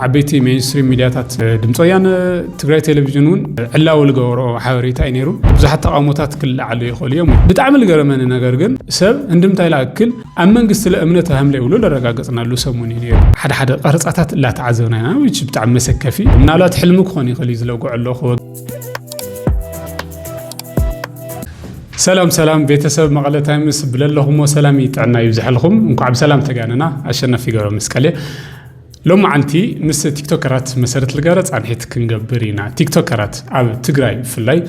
ዓበይቲ ሜይንስትሪም ሚድያታት ድምፂ ወያነ፣ ትግራይ ቴሌቪዥን እውን ዕላዊ ዝገበረኦ ሓበሬታ እዩ ነይሩ። ብዙሓት ተቓውሞታት ክለዓሉ ይኽእሉ እዮም። ብጣዕሚ ዝገረመኒ ነገር ግን ሰብ እንድምታይ ዝኣክል ኣብ መንግስቲ ለእምነት ሃም ለይብሉ ዘረጋገፅናሉ ሰሙን እዩ ነይሩ። ሓደ ሓደ ቀረፃታት እላተዓዘብና ኢና which ብጣዕሚ መሰከፊ ምናልባት ሕልሚ ክኾን ይኽእል እዩ ዝለጉዖ ኣለኹ። ሰላም ሰላም ቤተሰብ መቐለ ታይምስ ብለለኹሞ ሰላም ጥዕና ይብዝሐልኹም። እንኳዕ ብሰላም ተጋነና። ኣሸናፊ ገብረ መስቀል እየ። ሎማዓንቲ ምስ ቲክቶከራት መሰረት ልጋረ ፃንሒት ክንገብር ኢና። ቲክቶከራት ኣብ ትግራይ ብፍላይ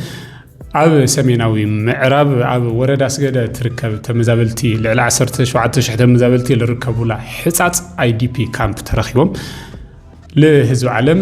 ኣብ ሰሜናዊ ምዕራብ ኣብ ወረዳ ስገደ ትርከብ ተመዛበልቲ ልዕሊ 17 ሽሕ ተመዛበልቲ ልርከቡላ ሕፃፅ ኣይዲፒ ካምፕ ተረኪቦም ልህዝቢ ዓለም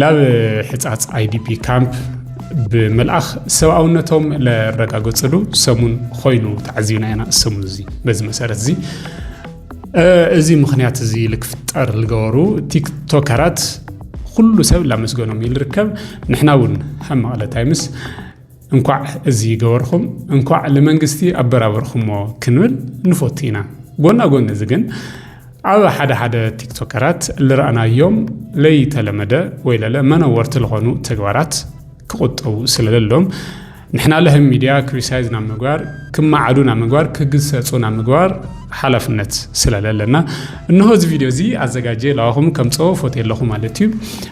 ላብ ሕጻጽ ኣይዲፒ ካምፕ ብምልኣኽ ሰብኣውነቶም ለረጋገጽሉ ሰሙን ኾይኑ ተዓዚብና ኢና ሰሙን እዚ በዚ መሰረት እዚ እዚ ምክንያት እዚ ልክፍጠር ዝገበሩ ቲክቶከራት ኩሉ ሰብ ላመስገኖም እዩ ዝርከብ ንሕና እውን ከም መቐለ ታይምስ እንኳዕ እዚ ገበርኹም እንኳዕ ልመንግስቲ ኣበራበርኹሞ ክንብል ንፎቱ ኢና ጎና ጎኒ እዚ ግን ኣብ ሓደ ሓደ ቲክቶከራት ልረኣናዮም ለይተለመደ ወይ ለለ መነወርቲ ዝኾኑ ተግባራት ክቁጠቡ ስለለሎም ንሕና ለህም ሚድያ ክሪሳይዝ ናብ ምግባር ክመዓዱ ናብ ምግባር ክግሰጹ ናብ ምግባር ሓላፍነት ስለለለና እነሆ እዚ ቪድዮ እዚ ኣዘጋጀ ለዋኹም ከምጾ ፎቴ ኣለኹ ማለት እዩ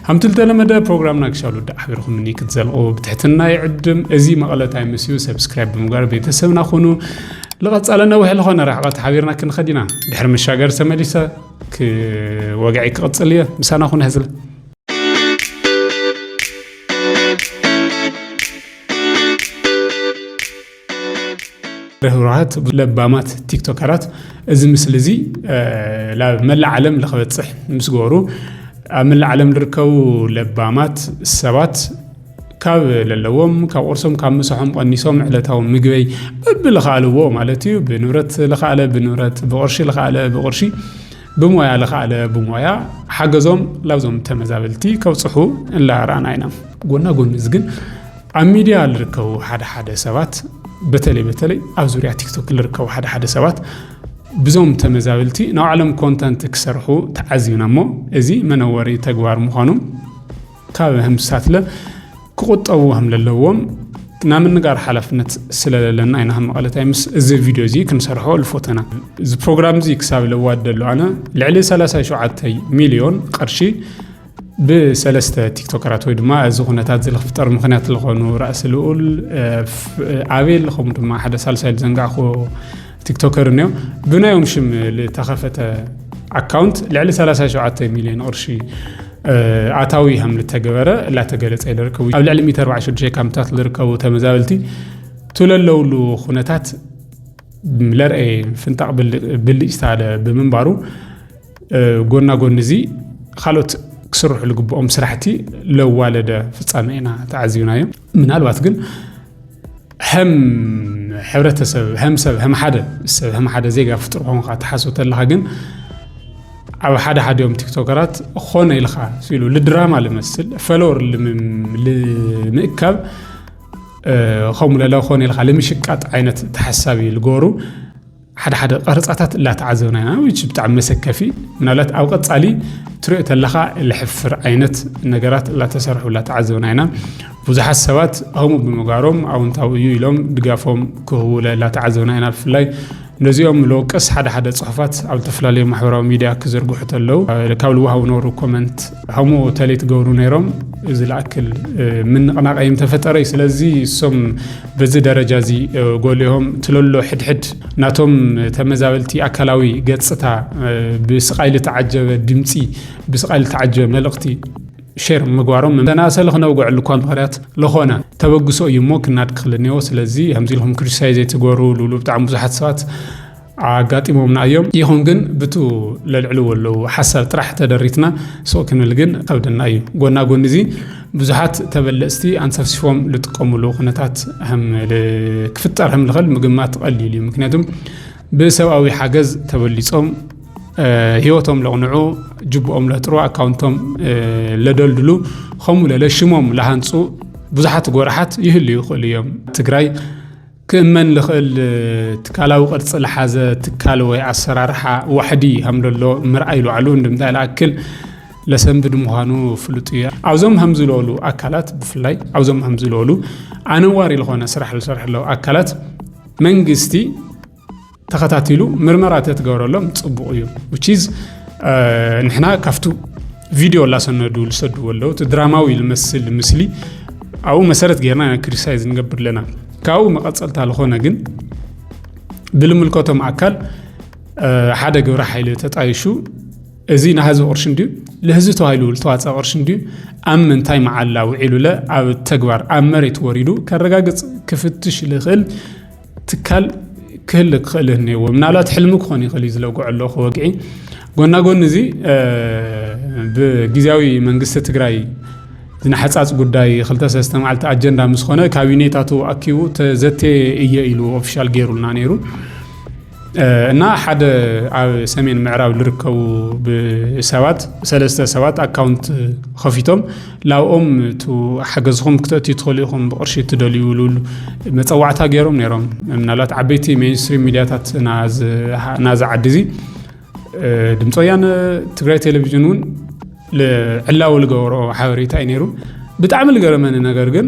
ሃምቲ ዝተለመደ ፕሮግራምና ክሻሉ ዳዕ ሓቢርኹም እኒ ክትዘልቑ ብትሕትና ይዕድም እዚ መቐለ ታይምስ እዩ ሰብስክራይብ ብምግባር ቤተሰብና ኩኑ ልቐጻለ ነዊሕ ዝኾነ ርሕቐት ሓቢርና ክንኸድ ኢና ድሕሪ መሻገር ተመሊሰ ወግዒ ክቕጽል እየ ምሳና ኩነ ህዝለ ርህሩሃት ለባማት ቲክቶከራት እዚ ምስሊ እዚ ናብ መላእ ዓለም ንክበፅሕ ምስ ገበሩ ኣብ መላእ ዓለም ዝርከቡ ለባማት ሰባት ካብ ለለዎም ካብ ቁርሶም ካብ ምሳሖም ቀኒሶም ዕለታዊ ምግበይ በቢ ልኸኣልዎ ማለት እዩ ብንብረት ልኸኣለ ብንብረት ብቕርሺ ልኸኣለ ብቕርሺ ብሞያ ልኸኣለ ብሞያ ሓገዞም ላብዞም ተመዛበልቲ ከብፅሑ እንላራና ኢና ጎና ጎኒ እዚ ግን ኣብ ሚድያ ልርከቡ ሓደ ሓደ ሰባት በተለይ በተለይ ኣብ ዙርያ ቲክቶክ ልርከቡ ሓደ ሓደ ሰባት ብዞም ተመዛበልቲ ናብ ዓለም ኮንተንት ክሰርሑ ተዓዚብና እሞ እዚ መነወሪ ተግባር ምዃኑ ካብ ህምሳትለ ክቑጠቡ ከም ለለዎም ናብ ምንጋር ሓላፍነት ስለለለና ኢና መቐለ ታይምስ እዚ ቪድዮ እዚ ክንሰርሖ ልፎተና እዚ ፕሮግራም እዚ ክሳብ ለዋደሉ ኣነ ልዕሊ 37 ሚልዮን ቅርሺ ብሰለስተ ቲክቶከራት ወይ ድማ እዚ ኩነታት እዚ ክፍጠር ምክንያት ዝኾኑ ራእሲ ልኡል ኣቤል ከምኡ ድማ ሓደ ሳልሳይ ዝዘንጋዕኩ ቲክቶከር እኒኦ ብናዮም ሽም ዝተኸፈተ ኣካውንት ልዕሊ 37 ሚሊዮን ቅርሺ ኣታዊ ከም ዝተገበረ እላተገለፀ ይርከቡ ኣብ ልዕሊ 146 ካምፕታት ዝርከቡ ተመዛበልቲ ትለለውሉ ኩነታት ለርኤ ፍንጣቕ ብልጭታ ብምንባሩ ጎና ጎኒ እዚ ካልኦት ክስርሑ ዝግብኦም ስራሕቲ ለዋለደ ፍፃመ ኢና ተዓዚብናዮ ምናልባት ግን ሀም ሕብረተሰብ ሀም ሰብ ሀም ሓደ ሰብ ሀም ሓደ ዜጋ ፍጡር ኮንካ ትሓስብ ተለካ ግን ኣብ ሓደ ሓዲኦም ቲክቶከራት ኾነ ኢልካ ሲሉ ልድራማ ልመስል ፈለወር ልምእካብ ከምኡ ለለ ኾነ ኢልካ ልምሽቃጥ ዓይነት ተሓሳቢ ልገሩ ሓደ ሓደ ቀረጻታት እላተዓዘብና ኢና ዊች ብጣዕሚ መሰከፊ ምናልባት ኣብ ቀጻሊ ትሪኦ ተለኻ ልሕፍር ዓይነት ነገራት እላተሰርሑ እላተዓዘብና ኢና ብዙሓት ሰባት ከምኡ ብምግባሮም ኣውንታዊ እዩ ኢሎም ድጋፎም ክህቡለ እላተዓዘብና ኢና ብፍላይ ነዚኦም ልወቅስ ሓደ ሓደ ጽሑፋት ኣብ ዝተፈላለዩ ማሕበራዊ ሚድያ ክዝርግሑ ተለው ካብ ልወሃቡ ነበሩ ኮመንት ሐሙ ተሌት ገብሩ ነይሮም እዚ ልኣክል ምንቕናቕ እንተፈጠረ እዩ ስለዚ እሶም በዚ ደረጃ እዚ ጎሊሆም ትለሎ ሕድሕድ ናቶም ተመዛበልቲ ኣካላዊ ገጽታ ብስቓይ ልተዓጀበ ድምፂ ብስቓይ ልተዓጀበ መልእኽቲ ሼር ምግባሮም መናእሰ ልክነውግዐሉ እኳ ምክንያት ለኾነ ተበግሶ እዩ እሞ ክናድ ክክልኔዎ ስለዚ ከምዚ ኢልኩም ክሪቲሳይዝ ዘይትገሩ ልብሉ ብጣዕሚ ብዙሓት ሰባት ኣጋጢሞምና እዮም ይኹን ግን ብቱ ለልዕልዎ ኣለዉ ሓሳብ ጥራሕ ተደሪትና ሱቕ ክንብል ግን ኸብደና እዩ ጎና ጎኒ እዚ ብዙሓት ተበለጽቲ ኣንሰፍሲፎም ልጥቀሙሉ ኩነታት ክፍጠር ከም ልኸል ምግማት ቐሊሉ እዩ ምክንያቱም ብሰብኣዊ ሓገዝ ተበሊጾም ህይወቶም ለቕንዑ ጅብኦም ለጥሩ ኣካውንቶም ለደልድሉ ከምኡ ለለ ሽሞም ለሃንፁ ብዙሓት ጎራሓት ይህልዩ ይኽእሉ እዮም ትግራይ ክእመን ልኽእል ትካላዊ ቅርጺ ልሓዘ ትካል ወይ ኣሰራርሓ ዋሕዲ ሃምለሎ ምርኣይ ልዋዕሉ እንድምታ ልኣክል ለሰንብድ ምዃኑ ፍሉጥ እዩ። ኣብዞም ሃምዚ ልበሉ ኣካላት ብፍላይ ኣብዞም ሃምዚ ልበሉ ኣነዋሪ ልኾነ ስራሕ ልሰርሕሎ ኣካላት መንግስቲ፣ ተኸታቲሉ ምርመራ ተትገብረሎም ጽቡቕ እዩ ዊችዝ ንሕና ካብቱ ቪድዮ ላሰነዱ ዝሰድዎ ኣለዉ እቲ ድራማዊ ዝመስል ምስሊ ኣብኡ መሰረት ጌርና ኢና ክሪቲሳይዝ ንገብር ኣለና ካብኡ መቐፀልታ ዝኾነ ግን ብልምልከቶም ኣካል ሓደ ግብረ ሓይሊ ተጣይሹ እዚ ንህዝቢ ቅርሺ እንድዩ ንህዝቢ ተባሂሉ ዝተዋፀ ቅርሺ እንድዩ ኣብ ምንታይ መዓላ ውዒሉለ ኣብ ተግባር ኣብ መሬት ወሪዱ ከረጋግፅ ክፍትሽ ዝኽእል ትካል ክህል ክኽእል እኒዎ ምናልባት ሕልሚ ክኾን ይኽእል እዩ ዝለግዖ ኣለኹ ወግዒ ጎና ጎኒ እዚ ብግዜያዊ መንግስቲ ትግራይ ዝነሓፃፅ ጉዳይ ክልተ ሰለስተ መዓልቲ ኣጀንዳ ምስ ኾነ ካቢኔታቱ ኣኪቡ ተዘቴ እየ ኢሉ ኦፊሻል ገይሩልና ነይሩ እና ሓደ ኣብ ሰሜን ምዕራብ ዝርከቡ ሰባት ሰለስተ ሰባት ኣካውንት ከፊቶም ላብኦም እቲ ሓገዝኹም ክተእትዩ ትኽእሉ ኢኹም ብቅርሺ እትደልዩ ልብሉ መፀዋዕታ ገይሮም ነይሮም ምናልባት ዓበይቲ ሜንስትሪም ሚዲያታት ናዚ ዓዲ እዚ ድምፂ ወያነ ትግራይ ቴሌቭዥን እውን ዕላዊ ዝገበሮ ሓበሬታ እዩ ነይሩ ብጣዕሚ ዝገረመኒ ነገር ግን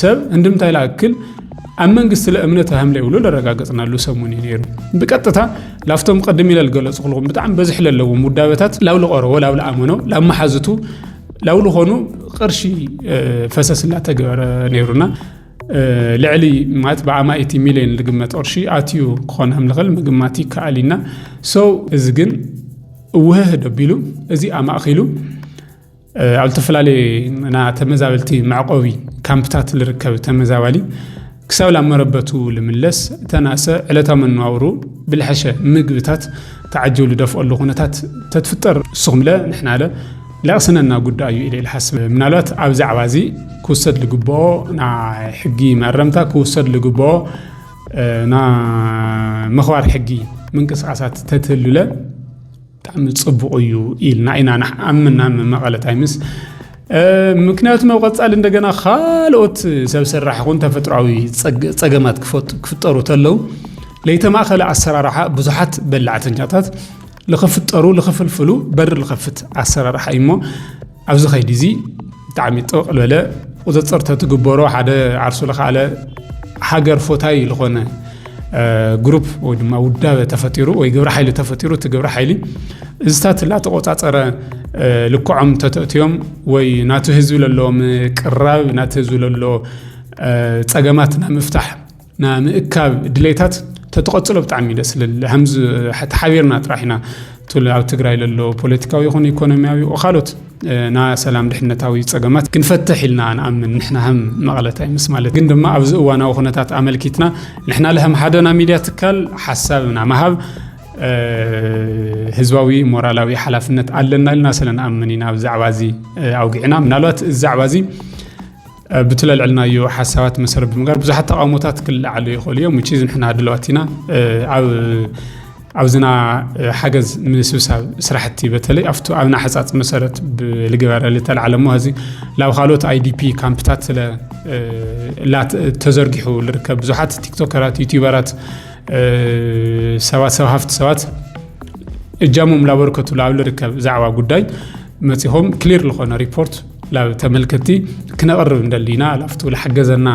ሰብ እንድምታይ ላእክል ኣብ መንግስቲ ለእምነት ሃምለ ይብሉ ለረጋገፅናሉ ሰሙን እዩ ነይሩ ብቀጥታ ላፍቶም ቅድም ኢለ ዝገለፁ ክልኹም ብጣዕሚ በዝሒ ለለዎም ውዳበታት ላብ ልቐረቦ ላብ ልኣመኖ ላብ መሓዝቱ ላብ ልኾኑ ቅርሺ ፈሰስ እናተገበረ ነይሩና ልዕሊ ማለት ብኣማኢቲ ሚሊዮን ዝግመት ቅርሺ ኣትዩ ክኾን ከም ዝኽእል ምግማት ይከኣል እዩና ሰው እዚ ግን እውህህ ደቢሉ እዚ ኣማእኪሉ ኣብ ዝተፈላለየ ና ተመዛበልቲ መዕቆቢ ካምፕታት ዝርከብ ተመዛባሊ ክሳብ ላ መረበቱ ልምለስ ተናሰ ዕለታዊ መነባብሩ ብልሐሸ ምግብታት ተዓጀሉ ደፍኦሉ ኩነታት ተትፍጠር ንስኹምለ ንሕናለ ለቕስነና ጉዳይ እዩ ኢለ ልሓስብ ምናልባት ኣብ ዛዕባ እዚ ክውሰድ ዝግብኦ ናይ ሕጊ መእረምታ ክውሰድ ዝግብኦ ና መኽባር ሕጊ ምንቅስቃሳት ተትህሉለ ብጣዕሚ ጽቡቕ እዩ ኢልና ኢና ንኣምና መቐለ ታይምስ ምክንያቱ ናብ ቀጻሊ እንደገና ካልኦት ሰብ ሰራሕ ኹን ተፈጥሯዊ ጸገማት ክፍጠሩ ተለው ለይተማእኸለ ኣሰራርሓ ብዙሓት በላዕተኛታት ልኽፍጠሩ ልኽፍልፍሉ በር ልኸፍት ኣሰራርሓ እዩ እሞ ኣብዚ ከይዲ እዚ ብጣዕሚ ጥቕ ልበለ ቁፅፅር ተትግበሮ ሓደ ዓርሱ ልኸኣለ ሃገር ፎታይ ዝኾነ ግሩፕ ወይ ድማ ውዳበ ተፈጢሩ ወይ ግብረ ሓይሊ ተፈጢሩ እቲ ግብረ ሓይሊ እዝታት እናተቆፃፀረ ልክዖም ተተእትዮም ወይ ናቲ ህዝቢ ለለዎም ቅራብ ናቲ ህዝቢ ለሎ ፀገማት ናብ ምፍታሕ ና ምእካብ ድሌታት ተተቐጽሎ ብጣዕሚ ደስ ልል ሃምዚ ተሓቢርና ጥራሕ ኢና ትል ኣብ ትግራይ ለሎ ፖለቲካዊ ይኹን ኢኮኖሚያዊ ካልኦት ና ሰላም ድሕነታዊ ጸገማት ክንፈትሕ ኢልና ንኣምን ንሕና ሃም መቐለታይ ምስ ማለት ግን ድማ ኣብዚ እዋናዊ ኩነታት ኣመልኪትና ንሕና ለሃም ሓደና ሚድያ ትካል ሓሳብና መሃብ ህዝባዊ ሞራላዊ ሓላፍነት ኣለና ኢልና ስለንኣምን ኢና ብዛዕባ እዚ ኣውጊዕና ምናልባት እዚ ዛዕባ እዚ ኣብቲ ለልዕልናዮ ሓሳባት መሰረት ብምግባር ብዙሓት ተቃውሞታት ክለዓሉ ይኽእሉ እዮም ውጪ ንሕና ድለዋት ኢና ኣብ ኣብዝና ሓገዝ ምስብሳብ ስራሕቲ በተለይ ኣብቲ ኣብና ሕፃፅ መሰረት ልግበረ ልተልዓለ እሞ እዚ ላብ ካልኦት ኣይዲፒ ካምፕታት ስለ ተዘርጊሑ ልርከብ ብዙሓት ቲክቶከራት ዩቲበራት ሰባት ሰብ ሃፍቲ ሰባት እጃሞም ላበርከቱ ላብ ልርከብ ዛዕባ ጉዳይ መፂኹም ክሊር ዝኾነ ሪፖርት ላብ ተመልከቲ ክነቕርብ እንደሊ ኢና ላፍቱ ዝሓገዘና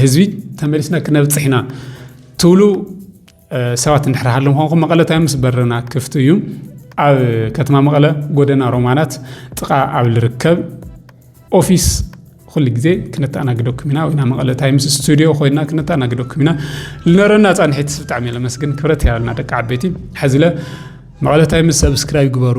ህዝቢ ተመሊስና ክነብፅሕ ኢና ትብሉ ሰባት እንድሕር ሃለ ምኳንኩም መቐለ ታይምስ በረና ክፍቲ እዩ ኣብ ከተማ መቐለ ጎደና ሮማናት ጥቓ ኣብ ዝርከብ ኦፊስ ኩሉ ግዜ ክነተኣናግደኩም ኢና ወይና መቐለ ታይምስ ስቱድዮ ኮይና ክነተኣናግደኩም ኢና ልነረና ፃንሒት ብጣዕሚ ለመስግን ክብረት ያበልና ደቂ ዓበይቲ ሕዝለ መቐለ ታይምስ ሰብስክራይብ ግበሩ